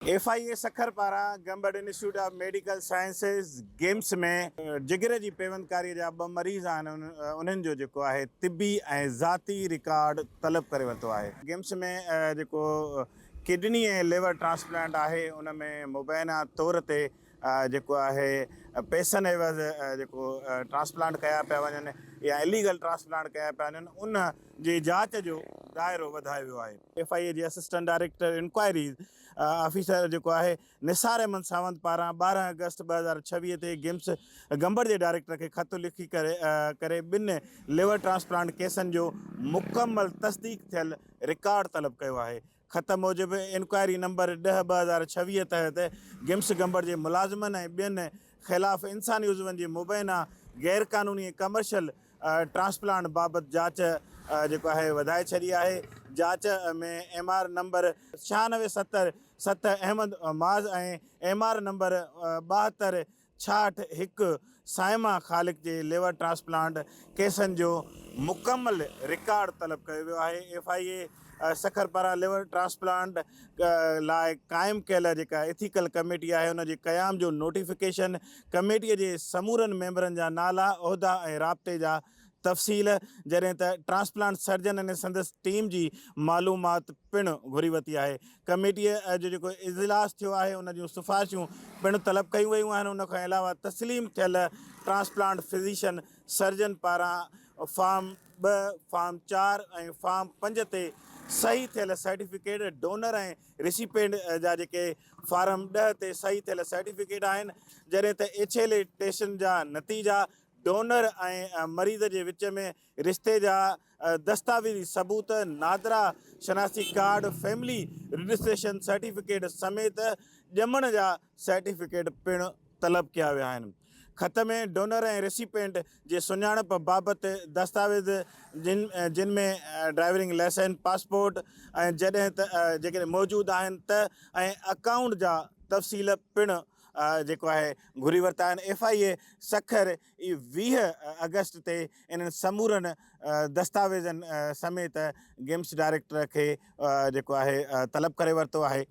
F I A Sukkur پاران Gambat institute of medical sciences, GIMS, ۾ جگر جي پيوندڪاري جا ٻه مريض آهن انهن جو جيڪو آهي طبي ۽ ذاتي رڪارڊ طلب ڪري ورتو آهي. گيمس ۾ جيڪو ڪڊني ۽ ليور ٽرانسپلانٽ آهي ان ۾ مبينا طور تي جيڪو آهي پئسن عيوض جيڪو ٽرانسپلانٽ ڪيا پيا وڃن يا اليگل ٽرانسپلانٽ ڪيا پيا وڃن ان جي جاچ جو دائرو وڌايو ويو آهي. ايف آء اي جي اسسٽنٽ ڊائريڪٽر انڪوائريز آفيسر جيڪو آهي نثار احمد ساوند پاران ٻارهن آگسٽ ٻه هزار ڇويهه تي گمس گمبڙ جي ڊائريڪٽر کي خط لکي ڪري ٻن ليور ٽرانسپلانٽ ڪيسن جو مڪمل تصديق ٿيل رڪارڊ طلب ڪيو آهي. خط موجب انڪوائري نمبر ڏهه ٻه هزار ڇويهه تحت گمس گمبڙ جي ملازمن ۽ ٻين خلاف انساني عضون جي مبينا غير قانوني ۽ ڪمرشل ٽرانسپلانٽ بابت جاچ جيڪو آهي وڌائي ڇڏي آهي جاچ ۾ ايم آر نمبر ڇهانوي ستر ست Ahmed Muaz ۽ M R number ٻاهتر ڇاهٺ هڪ صائمه خالق جي ليور ٽرانسپلانٽ ڪيسن جو مڪمل رڪارڊ طلب ڪيو ويو آهي ايف آء اي سکر پاران ليور ٽرانسپلانٽ لاء قائم ڪيل جيڪا ايٿيڪل ڪميٽي آهي ان جي قيام جو نوٽيفڪيشن، ڪميٽي جي سمورن ميمبرن جا نالا، عهدا ۽ رابطي جا تفصيل جڏهن ته ٽرانسپلانٽ سرجن ۽ سندس ٽيم جي معلومات پڻ گهري ورتي آهي. ڪميٽي جو جيڪو اجلاس ٿيو آهي ان جون سفارشون پڻ طلب ڪيون ويون آهن ان کان علاوه تسليم ٿيل ٽرانسپلانٽ فزيشن سرجن پاران فارم ٻه، فارم چار ۽ فارم پنج تي صحيح ٿيل سرٽيفڪيٽ ڊونر ۽ ريسيپينٽ جا جيڪي فارم ڏهه تي صحيح ٿيل سرٽيفڪيٽ آهن، جڏهن ته ايڇ ايل اي ٽيسٽن جا نتيجا ڊونر ۽ مريض جي وچ ۾ رشتي جا دستاويزي ثبوت، نادرا شناسي ڪارڊ، فيملي رجسٽريشن سرٽيفڪيٽ سميت ڄمڻ جا سرٽيفڪيٽ پڻ طلب ڪيا ويا آهن. خط ۾ ڊونر ۽ ريسيپينٽ جي سڃاڻپ بابت دستاويز جن ۾ ڊرائيورنگ لائسنس، پاسپورٽ ۽ جڏهن ته جيڪڏهن موجود آهن ته ۽ اڪائونٽ جا تفصيل پڻ جيڪو آهي گهري ورتا آهن. ايف آء اي سکر ئي ويهه آگسٽ تي انهن سمورن دستاويزن سميت گيمس ڊائريڪٽر کي جيڪو آهي طلب ڪري ورتو آهي.